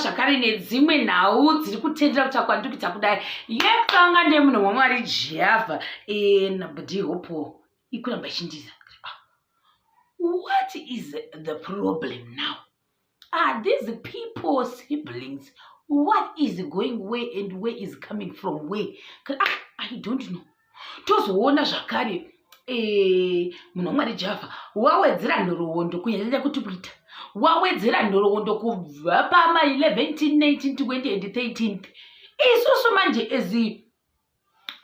zvakare nedzimwe nhau dziri kutendera kuti akwandikita kudai yekutanga ndemunhu wamwari jehovha nabdi hopo ikuramba ichindiza ah, what is the problem now are these people siblings what is going way and way is coming from way ah, i don't know tozoona zvakare eh, munhu wamwari java wawedzera nhoroondo kunyanyanya kuti kuita wawedzera nhoroondo kubva pama 11 19 20 and 13 isusu manje ezi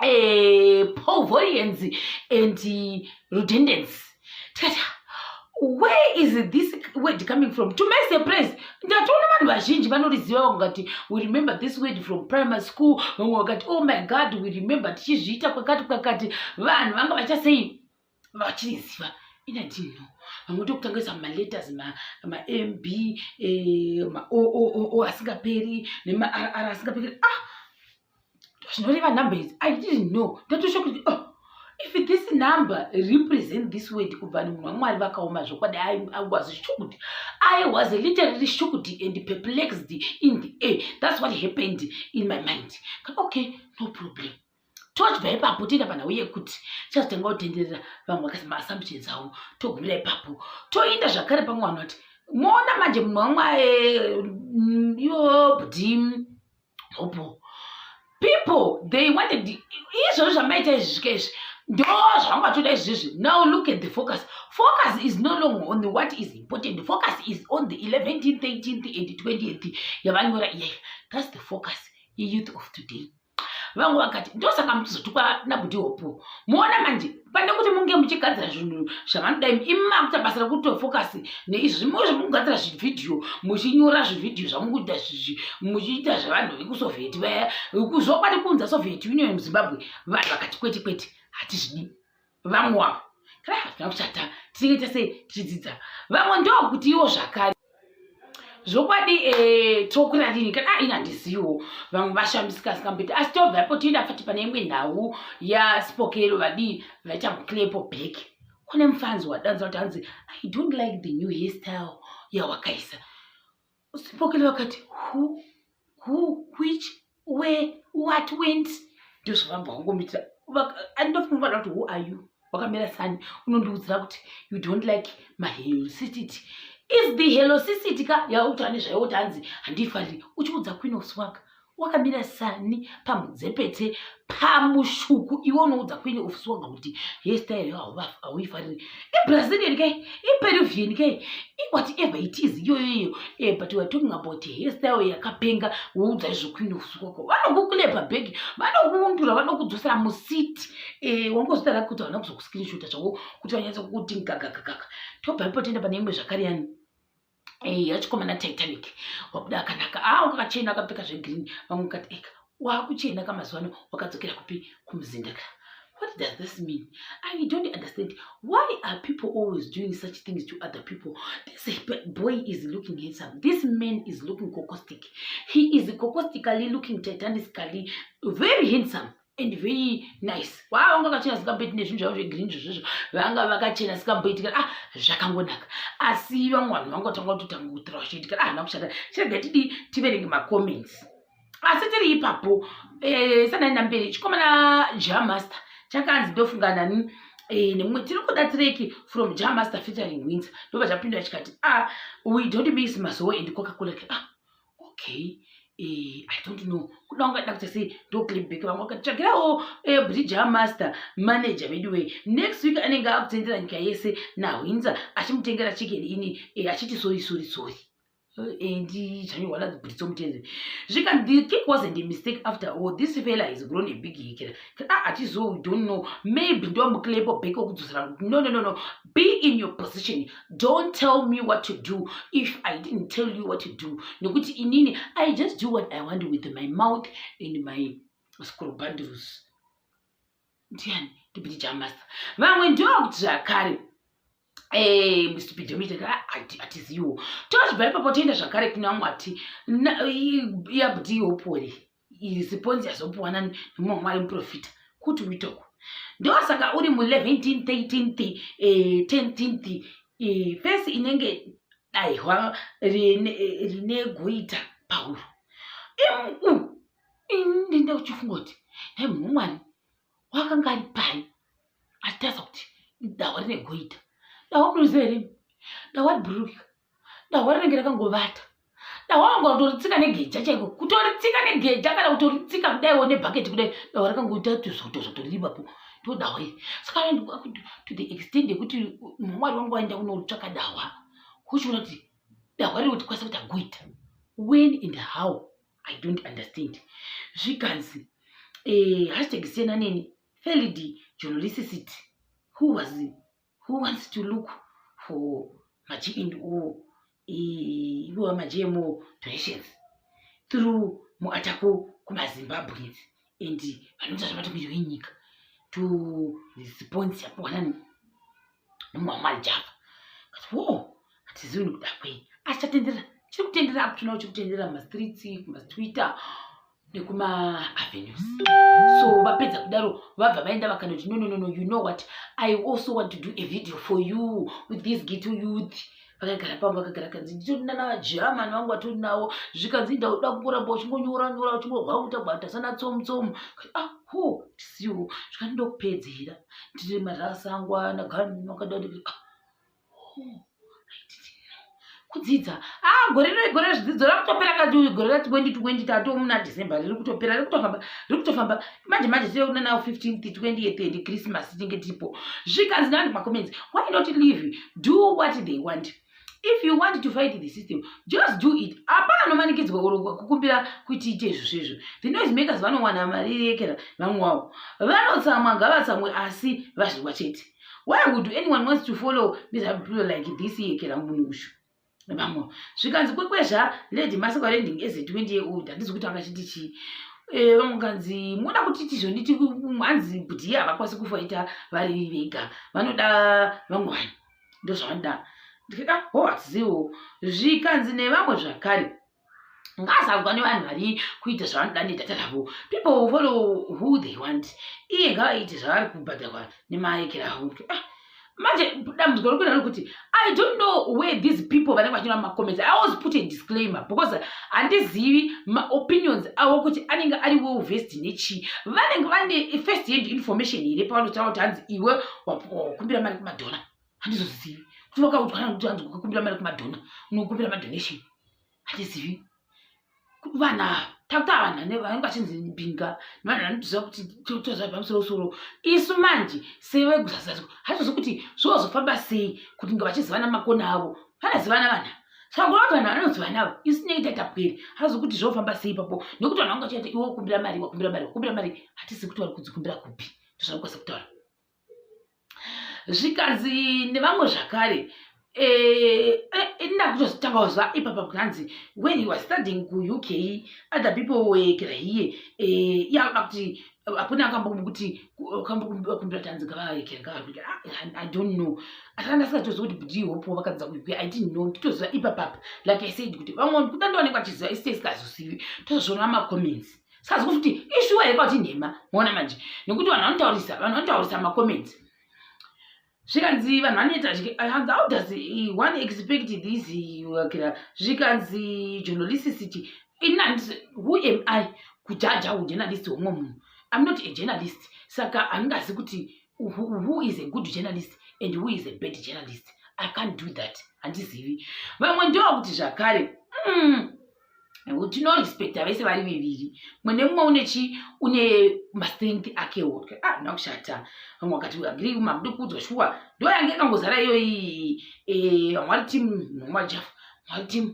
eh, povorians and redundance tikati where is this word coming from to my surprise ndatoona vanhu vazhinji vanoriziva vamwe vakati we remember this word from primary school vamwe vakati oh my god we remember tichizviita kwakati kwakati vanhu vanga vachasei vachiriziva inadino vamwe tokutangisa maletters mamb eh, maoo asingaperi nemarr asingaperi ah zvinoreva number idzi i didn't know ndotosho kuti oh, if this number represent this word kubva ni munhu wamwari vakaoma zvokwadi i was shuked i was literally shuked and perplexed in the air that's what happened in my mind okay no problem tochibva ipapo tiita panhau yekuti chazotanga kutenderera vamwe vakasi maassumptions avo togumira ipapo toinda zvakare pamwe vanhu vati moona manje munhu wamwae mm, yobdim hope people they wanted izvozvo zvamaita izvi zvika izvi ndo zvamatoda izvizvi now look at the focus focus is no longer on the what is important the focus is on the 11th 13th and 20th yavanyora iyayi thats the focus yeyouth of today vangu vakati ndosaka mutizotukwa nabuti hopo muona manje pane kuti munge muchigadzira zvinhu zvavanoda imi imi makuita basa rekutofokasi neizvi zvimwe zvamukugadzira zvivhidhiyo muchinyora zvivhidhiyo zvamukuita zvizvi muchiita zvevanhu vekusovheti vaya zvokwadi kunza sovheti union muzimbabwe vanhu vakati kwete kwete hatizvidi vamwe wavo kana hatina kuchata tinenge tese tichidzidza vamwe ndokuti iwo zvakare zvokwadi eh, tokura rini kana ah, ini handiziwo vamwe vashambisika sikambeti asi tobvapo tienda fati pane imwe nhau yaspokero vadii vaita muclepo back kune mufanzi wadanza kuti hanzi i don't like the new hairstyle yawakaisa spokero vakati who who which where what went ndozvavamba wangomitira andofunga kuti who are you wakamira sani unondiudzira kuti you don't like my helosicity is the helosicity ka yauti ane zvaiwo kuti hanzi handiifariri uchiudza queen of swag wakamira sani pamudzepete pamushuku iwe unoudza kuine ofisi wanga kuti hestyle yo hauifariri ibrazilian ke iperuvian ke iwhatever it is iyoyoyo eh, but weare talking about hestyle yakapenga woudza izvo kuine ofisi kwako vanokukulepa bag vanokuundura vanokudzosera musiti eh, wangozvitara kuti havana kuzokuscreenshota zvavo kuti vanyatsa kukuti gagagagaga tobva ipo tienda pane imwe zvakare yani eya eh, chikomana titanic wabuda akanaka a ah, wakakachena akapfeka zvegreen vamwe kati eka wakuchena ka mazuva ano wakadzokera kupi kumuzinda ka what does this mean i don't understand why are people always doing such things to other people this boy is looking handsome this man is looking cocostic he is cocostically looking titanically very handsome and very nice waa vanga vakachena zvikamboiti nezvinhu zvavo zvegreen zvozvozvo vanga vakachena zvikamboitika ah zvakangonaka asi vamwe vanhu vanga vatanga kutotanga kutura vachiitika ah hana kushata chirega tidi tiverenge macomments asi tiri ipapo eh, sanani namberi chikomana jamaster chakanzi ndofunga nani eh, nemumwe tiri kuda tireki from jamaster featuring winzer ndobva chapindura chikati ah we don't miss mazoe and coca cola ah okay Eh, I don't know kuda ungaida kuti sei ndoclipback vamwe vakatsvagirawo eh, bridger master manager veduwee next week anenge akutendera nyika yese nahwinza achimutengera chicken ini eh, achiti sori sori sori and chanyorwa nadzo britso mutende zvikanzi the cake wasn't a mistake after all this fela is grown a big hikira ah atizo we don't know maybe ndomuclepo back okudzosera no no no no be in your position don't tell me what to do if i didn't tell you what to do nekuti inini i just do what i want with my mouth and my scrobandles ndiani ndipiti chamasa vamwe ndokuti zvakare Eh, mr pidomite hatiziwo tochibva ipapo toenda zvakare kuna mwati yabuti yopori iri siponzi yazopuwa nani nemumwe wamwari muprofita kuti uitoko ndosaka uri mu 11 13 eh, 10 eh, fesi inenge daihwa rine, eh, rine goita pauro ndinda uchifunga kuti nai munhu wamwari wakanga ari pai achitaridza kuti dahwa rine goita dahwa munoziva here dahwa ribhururukika dahwa rinenge rakangovata dahwa wanga utoritsika negeja chaiko kutoritsika negeja kana kutoritsika kudaiwo nebhaketi kudai dahwa rakangoita tuzvoto zvotoriripapo ndo dahwa iri saka to the extend yekuti mwari wangu waenda kunotsvaka dahwa kuchiona kuti dahwa riri kutikwanisa kuti agoita when and how i don't understand zvikanzi eh, hashtag sena neni felidi journalisticity who was who wants to look for maji and o ivowa maji emo donations through muatako kumazimbabweans and vanoita zvematongerwo enyika to response yapuwana nemwamwari java kati wo hatizivi nekuda kwei asi chatenderera chiri kutenderera apo tinoona chiri kutenderera mumastreets kumatwitter nekumavenues so vapedza kudaro vabva vaenda vakanoti no no no no you know what i also want to do a video for you with this gito youth vakagara pangu vakagara kanzi nditori nanavagerman vangu vatori navo zvikanzi inda uda kungoramba uchingonyora nyora uchingogwauta gwauta sana tsomu tsomu ah ho tisiwo zvikanzi ndokupedzera ndiri marasa angu ana gani vakada kuti ah kudzidza ah gore rino igore zvidzidzo rakutopera kati gore ra 2020 tato muna december riri kutopera riri kutofamba riri kutofamba manje manje tiri kuna nawo 15 28 and christmas tinge tiripo zvikanzi nani macomments why not live do what they want if you want to fight the system just do it hapana nomanikidzwa urogwa kukumbira kuti ite izvo zvezvo the noise makers vanowana mari yekera vamwe wavo vanotsamwa ngavatsamwe asi vazvirwa chete why would anyone wants to follow nezvablo like this yekera munhu ushu vamwe zvikanzi kwekwezva lady masikwa rending as a 20 year old handizi kuti angachiti chii eh, vamwe kanzi moda kuti tizvonditi hanzi budi havakwasi kufaita vari vega vanoda vamwe vanhu ndozvavanoda ndikaka ho hatiziwo zvikanzi nevamwe zvakare ngaasaudzwa nevanhu vari kuita zvavanoda nedata ravo people will follow who they want iye ngavaite zvavari kubhadharwa nemaekera avo ah, manje dambudziko rikuita rekuti i don't know where these people vanenge vachina macomments i always put a disclaimer because handizivi maopinions avo kuti anenge ari well vest nechii vanenge vane first hand information here pavanotaura kuti hanzi iwe wakumbira mari kumadhora handizozivi kuti vakaudzwa kana kuti hanzi kukumbira mari kumadhona unokumbira madonation handizivi vana takuta vanhu ane vanenge vachinzi mbinga nevanhu vanoziva kuti tozva pamusoro soro isu manje sevegusazazwa hatizozi kuti zvozofamba sei kuti nga vachizivana makona avo vanazivana vana sangona kuti vanhu vanozivana avo isu tinenge taitapweri hatizozi kuti zvofamba sei ipapo nekuti vanhu vanga vachiita iwe ukumbira mari wakumbira mari wakumbira mari hatisi kuti vari kudzikumbira kupi tozvakukwanisa kutaura zvikanzi nevamwe zvakare Eh, eh, eh, ndakutozotanga kuziva ipapa kunanzi when he was studying kuuk other people were here yava kuti hakuna akambomu kuti kambokumbira tanzi ngavaekerengavakuti ah, i don't know asi anga asingatoziva kuti bdi hopo vakadza kuuk i didn't know nditoziva ipapapa like i said kuti vamwe kuda ndivanenge vachiziva isite isingazozivi tozozviona macomments sikazi kuti ishuwa here kwati nhema moona manje nekuti vanhu vanotaurisa vanhu vanotaurisa macomments zvikanzi vanhu vanoita hanzi how does one expect this wakira zvikanzi journalisticity inandis who am i kujaja ujournalist womwe munhu im not a journalist saka handingazi kuti who is a good journalist and who is a bad journalist i can't do that handizivi vamwe ndovakuti zvakare mm. tinorespecta vese vari viviri mwene mumwe une chi une mastrength ake woke ah nda kushata vamwe vakati agree makude kuudzwa shuwa ndo yange ikangozara iyoyi eh, vamwe vari team nomwa jafu vamwe vari team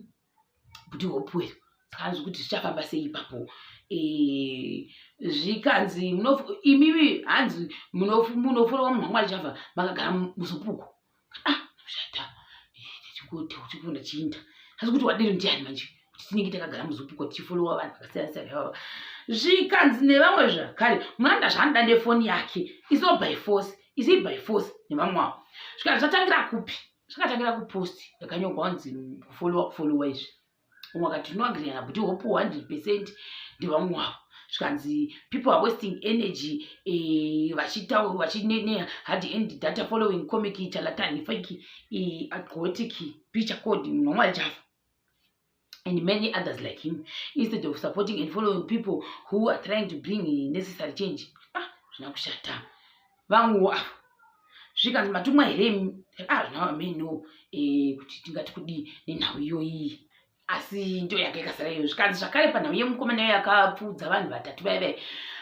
kuti hopuwe saka anzwi kuti zvichafamba sei ipapo Eh, zvikanzi imiwi hanzi munofurowa munhu wamwari chava makagara muzupuko ah shata chikoti uchikunda chiinda asi kuti wadero ndiani manje kuti tinenge takagara muzupiko tichifolowa vanhu vakasiyana siyana ivava zvikanzi nevamwe zvakare muranda zvaanoda nefoni yake iso by force isi by force nevamwe wavo zvikanzi zvatangira kupi zvakatangira kuposti yakanyogwa kunzi kufolowa kufolowa izvi umwe akati no agree na bhuti hope 100 percent ndevamwe wavo zvikanzi people are wasting energy eh, vachitaura vachinene hard end data following comic chalatani fake eh, aquatic picha code nomwari chafa and many others like him instead of supporting and following people who are trying to bring necessary change ah zvina kushata vangu ava zvikanzi matumwa here azvina ah, vameno eh, kuti tingati kudii nenhau iyoyi asi ndo yanga ikasara iyo zvikanzi zvakare panhau yemukomana iyo yakapfuudza vanhu vatatu vai vai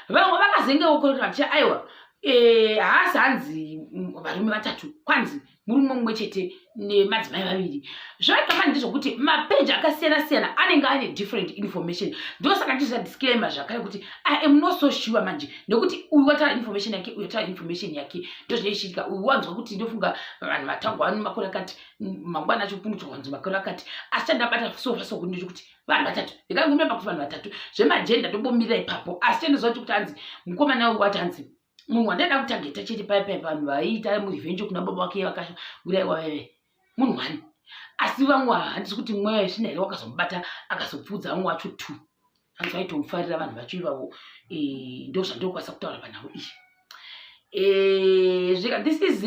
vamwe vakazenge ukorera vachia aiwa eh, haasi hanzi mm, varume vatatu kwanzi murume mumwe chete nemadzimai vaviri zvakama ndezvokuti mapeji akasiyana siyana anenge ane different information ndosaka ndizviza disclaimer zvakare kuti i am not so sure manje nekuti uyu wataura information yake uyu wataura information yake ndozvine zvichiitika uyu wanzwa kuti ndofunga vanhu vatangwa vano makore akati mangwana acho kuno chowanzwa makore akati asi chandabata sofa soku ndechekuti vanhu vatatu ndikangomira pakuti vanhu vatatu zvemajenda ndombomirira ipapo asi chendizoa kuti kuti hanzi mukomana uyu wati hanzi munhu wandaida kutageta chete paye paye vanhu vaiita murevenjo kuna baba vake vakauraiwa veve munhu wani asi vamwe handisi kuti mweya yesvina here wakazomubata akazopfuudza vamwe wacho two hanzi vaitomufarira vanhu vacho ivavo eh, ndo zvandokwanisa kutaura panhau iyi eh, zvika this is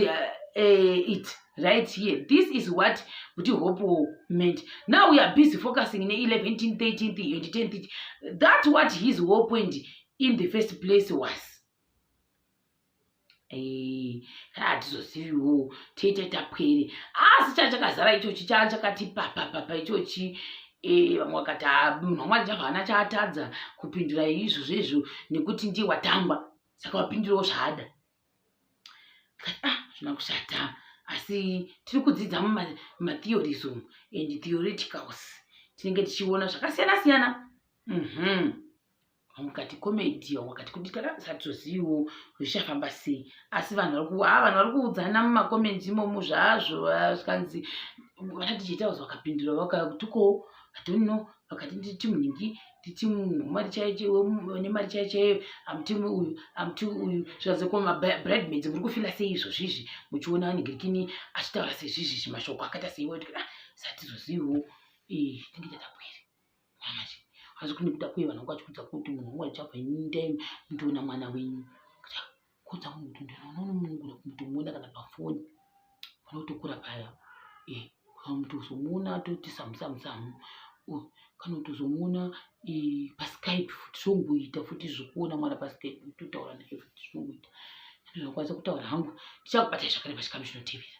eh, it right here this is what kuti hope meant now we are busy focusing ne 11 13 2010 that what his hope and in the first place was eh, kana hatizoziviwo tiite tapwere asi chaa chakazara ichochi chaa chakati papapapa ichochi eh, vamwe vakati ah, munhu wamwari chava hana chaatadza kupindura izvo zvezvo nekuti ndiye watangwa saka wapindurawo zvaada ah, zvina kushata asi tiri kudzidza mumatheories umu and theoreticals tinenge tichiona zvakasiyana siyana mm -hmm. mukati comedy wakati kuti kana usatoziviwo zvichafamba sei asi vanhu vari kuva ah, vanhu vari kuudzana mumacomendi imomo zvazvo zvikanzi vanati chetaus vakapindura vakatuko hatonno vakati ndiri timu nhingi nditimu mari chaine mari chai chaiyo amutimu uyu amuti uyu zvikazoku mabridemaids muri kufila sei izvo zvizvi muchiona anigirikini achitaura sezvizvi zvimashoko akaita seiwa ah, satizoziviwo eh, tinge tatapwere manje asi kune kuda kuye vanhu vakachikudza kuti munhu wangu achabva indai mndiona mwana wenyu kodza munhu kuti ndinoona unomunungura kumutomuona kana pafoni vanotokura paya eh, kana kuti uzomuona atoti samusamusamu oh, kana kuti uzomuona eh, paskype futi zvongoita futi zvekuona mwana paskype totaura naye futi zvongoita ndinokwanisa kutaura hangu ndichakubata zvakareba chikamu chinotevera